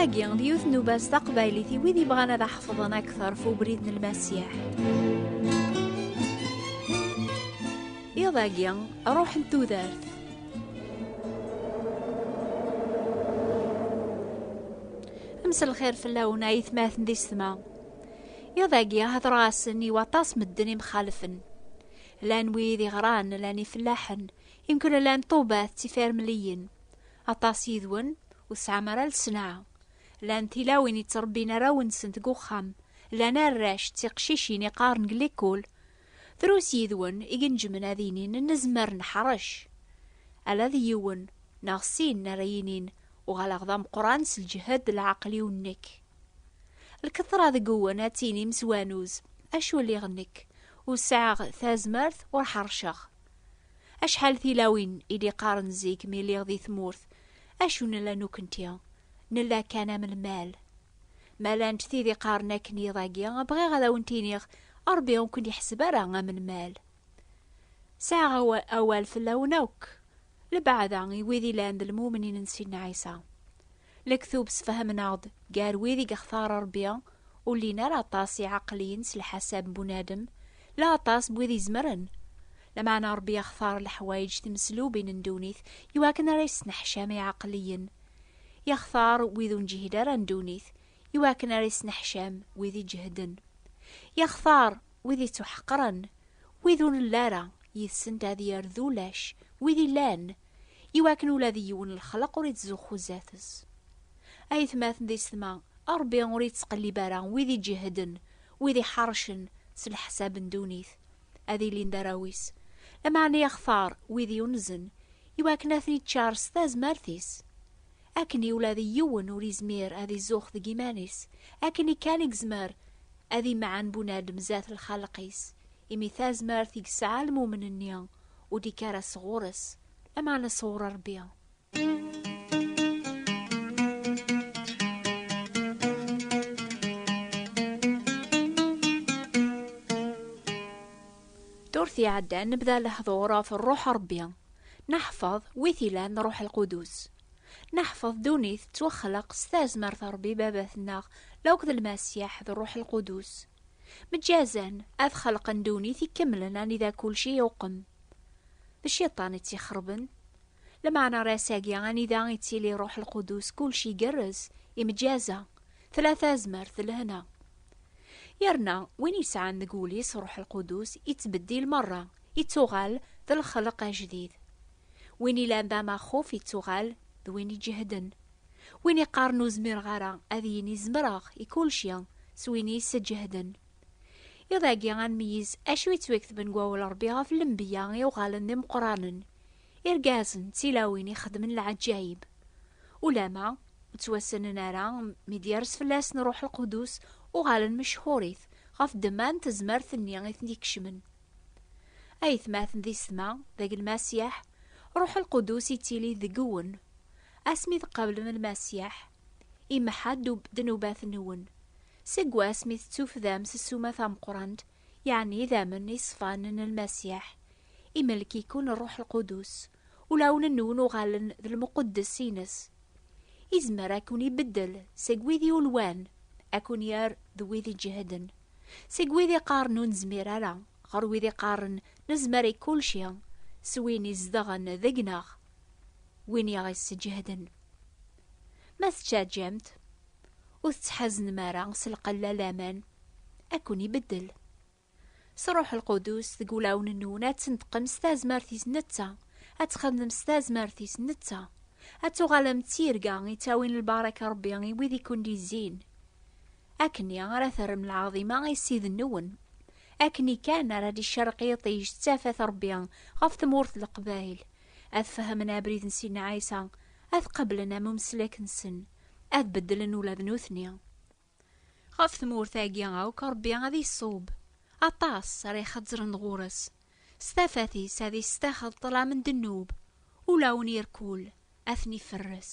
Tagi, d yiwet n ubas taqbaylit i wid yebɣan ad aḥefḍen akteṛ f ubrid n lmasiḥ. Iḍ-agi, ruḥ n tudert. Amsel lxir fell-awen ay tmaten di setma. Iḍ-agi, hedreɣ-asen i waṭas medden imxalfen. Llan wid iɣran, llan ifellaḥen, imkul llan ṭubat tifirmliyin. Aṭas yid-wen ur tesɛam ara lsenɛa. Llan tilawin yettrebbin arraw-nsent deg uxxam, llan arrac d tiqcicin iqqaren deg likul. Drus yid-wen i ineǧmen ad inin nezmer neḥrec. Ala d yiwen neɣ sin ara yinin uɣaleɣ d ameqqran s lǧehd d leɛqel-iw nekk. lketra deg-wen ad tinim s wanuz, acu lliɣ nekk, ur sɛiɣ tazmert ur ḥerceɣ. Acḥal tilawin i d-iqqaren zik mi lliɣ di tmurt, acu nella nukenti, nella kan am lmal. Ma llant tid iqqaren akken iḍ-agi, bɣiɣ ad awent-iniɣ, Ṛebbi ur ken-iḥseb ara am lmal. Sɛiɣ awal fell-awen akk, lebɛada i wid ilan d lmumnin n Sidna Ɛisa. Lektub sfehmen-aɣ-d gar wid i yextar Rebbi ur llin ara aṭas iɛaqliyen s lḥasab n bunadem, la aṭas n wid izemren. Lameɛna Rebbi yextar leḥwayeǧ timeslubin n ddunit iwakken ara yesneḥcam iɛaqliyen. Yextar wid ur neǧhid ara n ddunit iwakken ara yesneḥcam wid iǧehden. Yextar wid ittuḥeqren, wid ur nelli ara yid-sent ad yerr d ulac wid illan. i wakken ula d yiwen n lexlaq ur ittzuxxu zdat-s. Aytmaten di setma, Ṛebbi ur ittqellib ara wid iǧehden, wid iḥeṛcen s leḥsab n ddunit, ad ilin d arraw-is, lameɛna ixtar wid yunzen i wakken ad ten-iččar s tazmert-is. akken i ula d yiwen ur izmir ad izuxx deg iman-is, akken i kan i yezmer ad imɛen bunadem zdat lxaleq-is, imi tazmert i yesɛa lmumen-nni ur d-ikka ara sɣur-s, lameɛna sɣur Rebbi. Ddurt iɛeddan nebda lehdur ɣef Ṛṛuḥ n Ṛebbi. Neḥfeḍ wi t-ilan Ṛuḥ Lqudus. Neḥfeḍ ddunit tettwaxleq s tazmert n Ṛebbi Babat-nneɣ laukk d Lmasiḥ d Ṛuḥ Lqudus. Meǧǧazen ad xelqen ddunit ikemlen anida kulci iwqem. D Cciṭan i tt-ixerben. Lmeɛna ar ass-agi anida ittili Ṛuḥ Lqudus kulci igerrez, imeǧǧaza, tella tazmert d lehna. Yerna win yesɛan deg wul-is Ṛuḥ Lqudus ittbeddil meṛṛa, Ittuɣal d lexleq ajdid. Win ilan d amaxuf ittuɣal d win iǧehden. Win iqqaren ur zmireɣ ara ad yini zemreɣ i kulci s win i yessǧehden. Iḍ agi ad nmeyyez acu yettweketben deg wawal Rebbi ɣef lenbiya i uɣalen d imeqqranen, irgazen d tilawin i xedmen lɛeǧǧayeb. Ulama ur ttwassnen ara mi d-yers fell-asen Ruḥ Lqudus uɣalen mechur-it ɣef ddemma n tezmert-nni i ten-ikecmen. Ayetmaten di setma, deg lmasiḥ, ruḥ lqudus ittili deg-wen. Asmi tqablem lmasiḥ, imeḥḥa ddnubat-nwen. Seg wasmi tettufdam s ssuma tameqqrant, yeɛni idamen iṣfan n lmasiḥ, imelk-iken rruḥ lqudus, ulawen-nwen uɣalen d lmuqeddes-ines. Izmer akun-ibeddel seg wid yulwan, akun-yerr d wid iǧehden. Seg wid iqqaren ur nezmir ara, ɣer wid iqqaren nezmer i kulci, s win izedɣen deg-neɣ, win i aɣ-isseǧehden. Ma tettaǧǧamt, ur tettḥaznem ara s lqella laman ad ken-ibeddel. S Ṛṛuḥ Lqudus deg wulawen-nwen ad tneṭqem s tazmert-is netta, ad txedmem s tazmert-is netta, ad tuɣalem d tirga ittawin lbaṛaka n Ṛebbi i wid i ken-d-izzin. Akkenni ara terrem lɛaḍima i Ssid-nwen. Akkenni kan ara d-icerreq yiṭij d tafat Rebbi ɣef tmurt n Leqbayel, ad fehmen abrid n Sidna Ɛisa, ad qablen am umeslek-nsen, ad beddlen ula d nutni. Ɣef tmurt-agi akk Rebbi ad iṣub. Aṭas ara ixezzren ɣur-s. S tafat-is ad isetaxel ṭṭlam n ddnub. Ulawen irkul ad ten-iferres.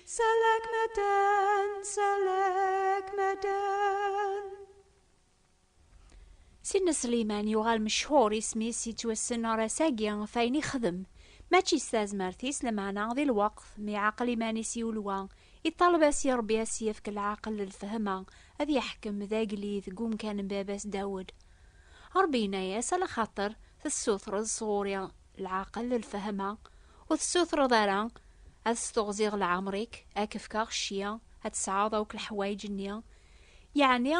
Selek meden, selek meden. Sidna Sliman yuɣal mechuṛ isem-is yettwassen ar ass-agi ɣef ayen ixdem. Mačči s tazmert-is lameɛna di lweqt mi iɛaqel iman-is i ulwa, iṭaleb-as i Ṛebbi ad s-yefk lɛaqel d lfehma ad yeḥkem d agellid deg umkan n baba-s Dawed. Ṛebbi yenna-yas, a lxaṭer tessutreḍ sɣur-i lɛaqel, lfehma, ur tessutreḍ ara ad steɣziɣ lɛemr-ik, ad k-fkeɣ cci, ad tesɛuḍ akk leḥwayeǧ-nni, yeɛni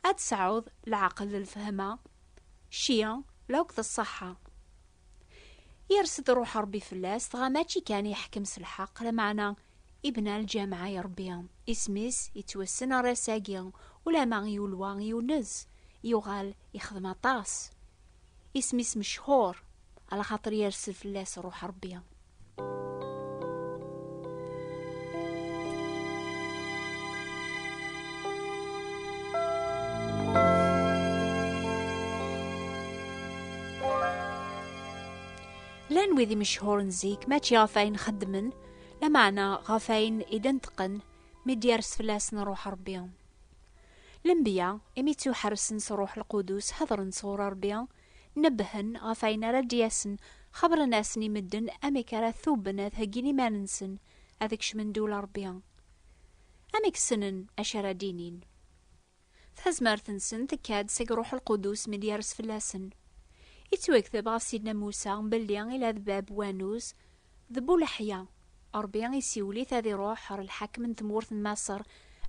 ad tesɛuḍ lɛaqel, lfehma, cci, la akked ṣṣeḥḥa. Yers-d Ṛuḥ Ṛebbi fell-as, dɣa mačči kan yeḥkem s lḥeqq, lameɛna ibna lǧameɛ i Ṛebbi, isem-is yettwassen ɣer ass-agi, ulamma i ulwa yunez, yuɣal yexdem aṭas. Isem-is mechuṛ, ala xaṭer yersel fell-as ṛuḥ Ṛebbi. Llan wid imecḥuren zik, mačči ɣef ayen xeddmen, lameɛna ɣef ayen i d-neṭqen mi d-yers fell-asen ṛuḥ Ṛebbi. Lenbiya, imi ttuḥersen s Ṛṛuḥ Lqudus, heḍṛen sɣur Ṛebbi, nebbhen ɣef wayen ara d-yasen, xebbṛen-asen i medden amek ara tuben ad heggin iman-nsen ad kecmen ddula Ṛebbi. Amek ssnen acu ara d-inin? Tazmert-nsen tekka-d seg Ṛṛuḥ Lqudus mi d-yers fell-asen. Ittwekteb ɣef Sidna Musa belli ila d bab wannuz, D Bu Leḥya, Ṛebbi isiwel-it ad iṛuḥ ɣer lḥakem n tmurt n Maṣer,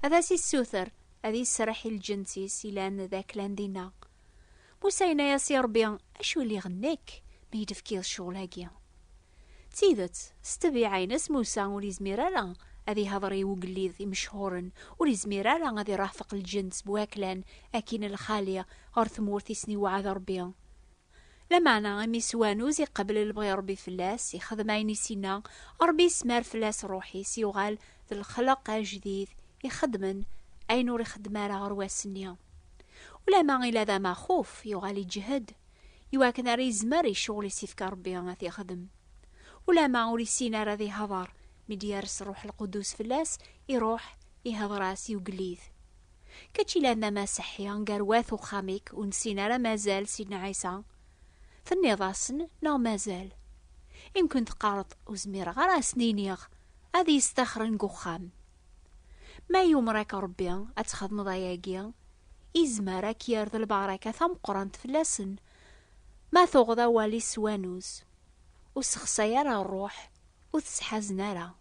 ad as-issuter ad iserreḥ i lǧens-is ilan d aklan dinna. Musa yenna-yas i Ṛebbi, Acu i liɣ nekk, mi yi-d-tefkiḍ ccɣel-agi? D tidet, s ṭṭbiɛa-ines Musa ur yezmir ara ad ihdeṛ i ugellid imecḥuṛen, ur yezmir ara ad iṛahfeq lǧens bu aklan, akin lxali ɣer tmurt i sen-iweɛɛed Ṛebbi. Lameɛna imi s wanuz i qebl lebɣi n Rebbi fell-as, ixdem ayen i s-inna, Rebbi ismar fell-as ṛṛuḥ-is, yuɣal d lexleq ajdid ixeddmen ayen ur ixeddem ara ɣer wass-nni. Ulamma ila d amaxuf, yuɣal iǧhed, i wakken ara izmer i ccɣel i s-ifka Rebbi ad t-ixdem. Ulamma ur issin ara ad ihdeṛ, mi d-yers Ṛṛuḥ Lqudus fell-as, iṛuḥ, ihdeṛ-as i ugellid. Kečč ilamam aseḥḥi nger wat uxxam-ik ur nessin ara mazal Sidna Ɛisa? Tenniḍ-asen neɣ mazal? Imken teqqareḍ ur zmireɣ ara ad sen-iniɣ ad iyi-staxren deg uxxam. Ma yumer-ak Rebbi ad txedmeḍ ayagi, izmer ad k-yerr d lbaraka tameqqrant fell-asen ma tuɣeḍ awal-is s wanuz. Ur ssexsay ara ṛṛuḥ, ur t-sḥazen ara.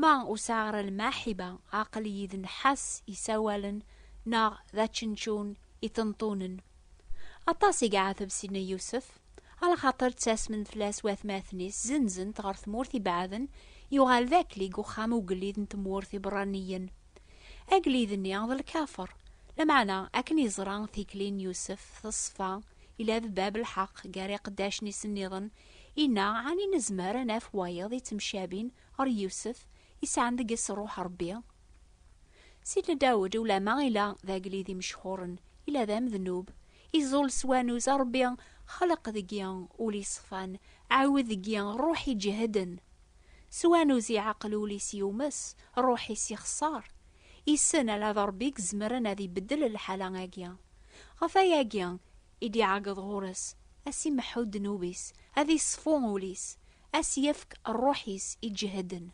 Ma ur sɛiɣ ara lmaḥiba, aql-iyi d nnḥas isawalen neɣ d ačenčun iṭenṭunen. Aṭas i iɛateb Sidna Yusef, ala xaṭer ttasmen fell-as watmaten-is, zenzen-t ɣer tmurt ibeɛden, yuɣal d akli deg uxxam ugellid n tmurt iberraniyen. Agellid-nni d lkafer, lameɛna akken yeẓra tikli n Yusef teṣfa, yella d bab lḥeq gar iqeddacen-is nniḍen Inna, Ɛni nezmer a naf wayeḍ ittemcabin ɣer Yusef isɛan deg-s Ṛuḥ Ṛebbi? Sidna Dawed, ulamma ila d agellid imecḥuṛen, ila d amednub, iẓul s wanuz, A Ṛebbi, xleq deg-i ul iṣfan, ɛiwed deg-i ṛṛuḥ iǧehden. S wanuz iɛeqqel ul-is yumes, ṛṛuḥ-is ixeṣṣer. Yessen ala d Ṛebbi i izemren ad ibeddel lḥala-agi. Ɣef wayagi, i d-iɛeggeḍ ɣur-s, a s-imeḥḥu ddnub-is, a d-iṣfu ul-is, a s-yefk rruḥ-is iǧehden.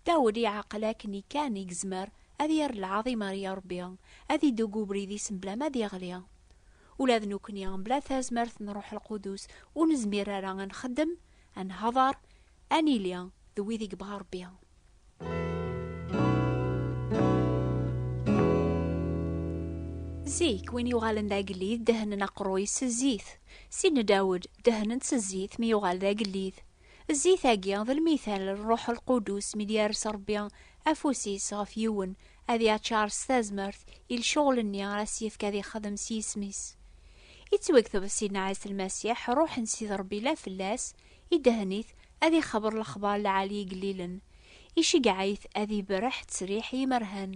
Dawed iɛeqqel akken i kan i yezmer ad yerr lɛaḍima ar Iṛebbi, ad ideg ubrid-is mebla ma ad iɣli. Ula d nekkni, mebla tazmert n Ṛṛuḥ Lqudus, ur nezmir ara a nxeddem, a nehḍeṛ, a nili d wid i yebɣa Ṛebbi. Zik, win yuɣalen d agellid dehnen aqerruy s zzit. Si Dawed, dehnen-t s zzit mi yuɣal d agellid. Zzit-agi d lmithal n Ṛṛuḥ Lqudus mi d-yers Ṛebbi afus-is ɣef yiwen ad yaččar s tazmert i lcuɣel-nni ara s-yefk ad ixdem s yisem-is. Ittwagteb Sidna Ɛisa Lmasiḥ, ṛṛuḥ n Sidi Ṛebbi la fell-as, Idehhen-it ad ixebber lexbar lɛali igellilen, iceggeɛ-it ad iberreḥ ttriḥ i yimerhan,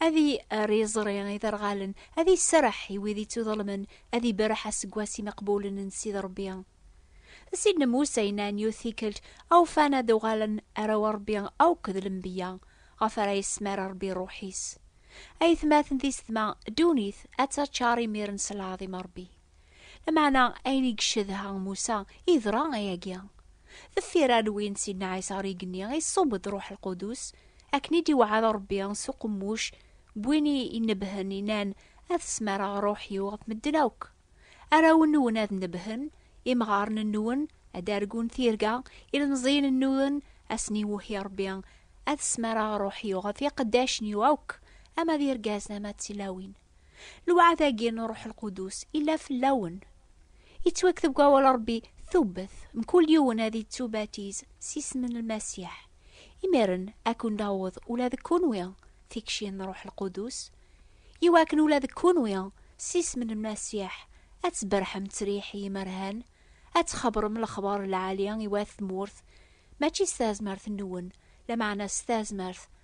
ad irr iẓri i iderɣalen, ad iserreḥ i wid ittuḍelmen, ad iberreḥ aseggas imeqbulen n Sidi Rebbi. D sin n Musa inna n yiwet tikkelt, Awfan ad uɣalen arraw n Rebbi akk d lenbeyya, ɣef ara yesmar Rebbi rruḥ-is. Ayetmaten tisetma, ddunit ad taččar imiren s lɛaḍima n Rebbi. Lameɛna ayen i yeccedha Musa yeḍra ayagi. Deffir alwi n Sidna Ɛisa ɣer igenni, iṣubb-d Ṛuḥ Lqudus, akken i d-iweɛɛed Ṛebbi s uqemmuc n win i inebbhen, innan, Ad smareɣ Ṛuḥ-iw ɣef medden akk. Arraw-nwen ad nebbhen, imɣaren-nwen ad d-argun tirga, ilemẓiyen-nwen ad sen-iwehhi Ṛebbi, Ad smareɣ Ṛuḥ-iw ɣef iqeddacen-iw akk, ama d irgazen ama d tilawin. Lwaɛd-agi n Ṛṛuḥ Lqudus illa fell-awen. Yettwakteb deg Wawal n Ṛebbi tubbet, mkul yiwen ad yettubatiz s yisem n Lmasiḥ. Imiren, ad ken-d-aweḍ ula deg kunwi tikci n Ṛṛuḥ Lqudus, i wakken ula deg kunwi, s yisem n Lmasiḥ, ad tberrḥem ttriḥ i yimerhan, ad txebṛem lexbaṛ n lɛali i wat tmurt, mačči s tazmert-nwen, lameɛna s tazmert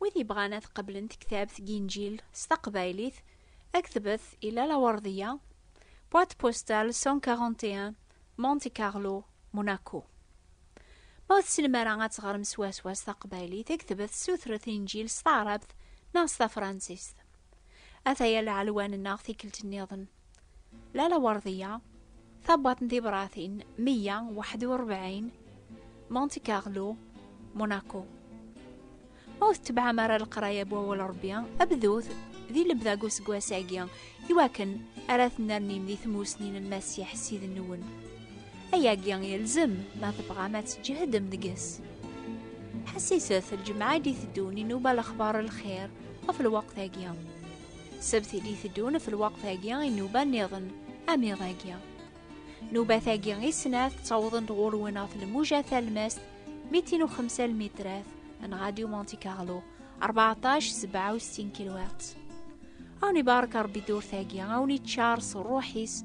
Wid yebɣan ad qeblen tektabt Ginjil s taqbaylit, ad ktbet i Lala Werdiya, boîte postale 141, Monte Carlo, Monaco. Ma ur tessnem ara ad teɣrem swaswa s taqbaylit, ad ktbet sutret Injil s taɛrabt neɣ s tafransist. Ataya lɛelwa-nneɣ tikkelt-nniḍen. Lala Werdiya, tabwaḍt n tibratin 141, Monte Carlo, Monaco. Ma ur tetebɛem ara leqraya n wawal Rebbi, abdut di lebda n useggas-agi, iwakken ara tennernim di tmussni n Masiḥ Ssid-nwen. Ayagi yelzem ma tebɣam ad tǧehdem deg-s. Ḥessiset lǧemɛa i d-iteddun inuba lexbar lxir ɣef lweqt-agi. Sebt i d-iteddun ɣef lwaqt-agi i nnuba nniḍen, am iḍ-agi. Nubat-agi i snat ttawḍen-d ɣur-wen ɣef lmuja talmast 205 lmitrat n Radio Monte Carlo 1467 kilowatts. Awen ibarek Rebbi durt-agi, awen iččar s ṛṛuḥ-is,